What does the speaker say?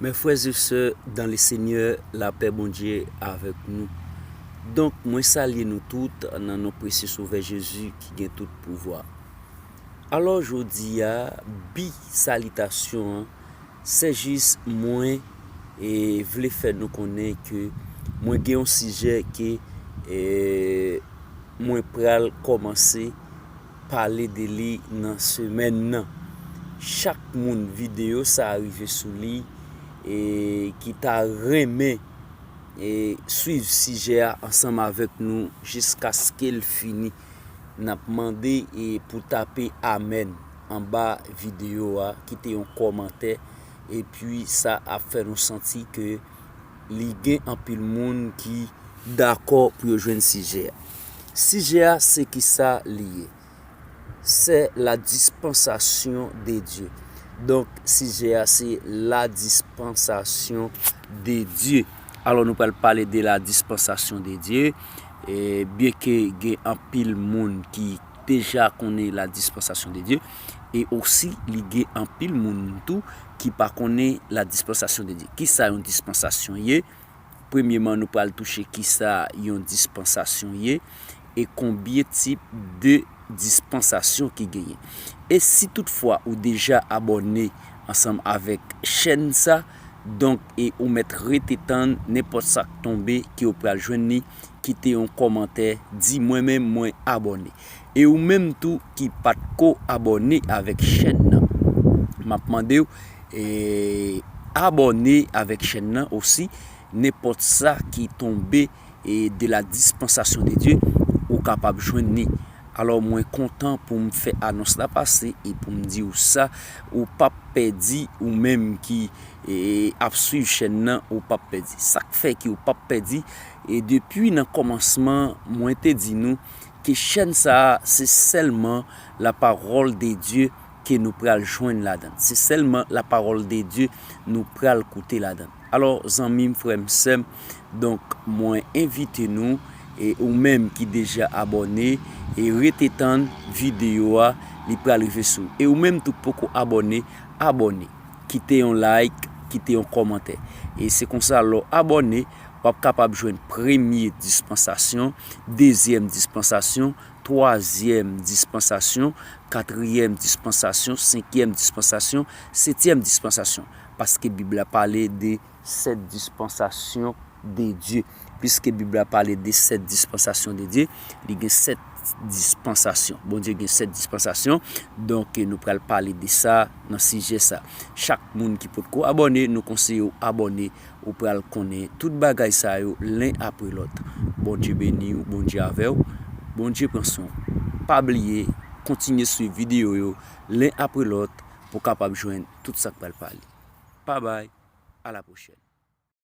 Mes frères et sœurs dans le Seigneur, la paix Bondye avèk nou. Donk mwen salye nou tout nan non presye Sovè Jezi ki gen tout pouvwa. Alò jodi a, bi salitasyon an Sè Jis mwen vle fè nou konnen ke mwen gen yon sijè ke mwen pral kòmanse pale de li nan semèn nan. Chak moun videyo sa rive sou li ki ta renmen swiv sijè a ansanm avèk nou jiskaskel fini nap mande pou tape amèn. anba video a kite yon kòmantè epi sa ap fè nou santi ke li gen anpil moun ki dakò pou yo jwenn sijè a. Sijè a se kisa li ye? Sè la dispansasyon de Dye. Donk sijè a se la dispansasyon de Dye. Alò nou pral pale de la dispansasyon de Dye. Byen ke gen anpil moun ki. deja konnen la dispansasyon de Dye e osi li gen anpil moun tou ki pa konnen la dispansasyon de Dye. Ki sa yon dispansasyon ye? Premyeman nou pral touche ki sa yon dispansasyon ye e konbyen tip de dispansasyon ki genyen. E si tout fwa ou deja abòne ansanm avèk chèn sa donk e ou mèt rete tann nenpòt sak tonbe ke ou pral jwenn li. kite yon kòmantè di mwen menm mwen abòne e ou menm tou ki pat ko abòne avèk chèn nan map mandew abòne avèk chèn nan osi nenpòt sa ki tonbe de la dispansasyon de Dye ou kapab jwenn ni alò mwen kontan poum fè anons la pase e poum diw sa ou pap pèdi ou menm ki ap swiv chèn nan ou pap pèdi sak fè ki ou pap pèdi. E depi nan kòmansman mwen te di nou ke chèn sa a se sèlman la parole de Dieu ke nou pral jwenn ladan l, se sèlman la parole de Dieu nou pral koute ladan l. Alò zanmi m, frè m, sè m, donk mwen envite nou e ou menm ki deja abòne e rete tann videyo a li pral rive sou ou. E ou menm tou k poko abòne, abòne, kite yon like, kite yon kòmantè. E se konsa lè w abòne. w ap kapab jwenn premye dispansasyon, dezyèm dispansasyon, twazyèm dispansasyon, katriyèm dispansasyon, senkyèm dispansasyon, setyèm dispansasyon. Paske Bib la pale de sèt dispansasyon de Dye. Piske Bib la pale de sèt dispansasyon de Dye, li gen sèt dispansasyon. Bondye gen sèt dispansasyon. Donk, nou pral pale de sa nan sijè sa. Chak moun ki potko abòne, nou konseye w abòne Ou pral konnen tout bagay sa yo len apre lòt Bondye beniw Bondye avèw Bondye pran swen w pa bliye kontinye swiv video yo len apre lòt pou kapab jwenn tout sak pral pale pa bay a la pwochèn.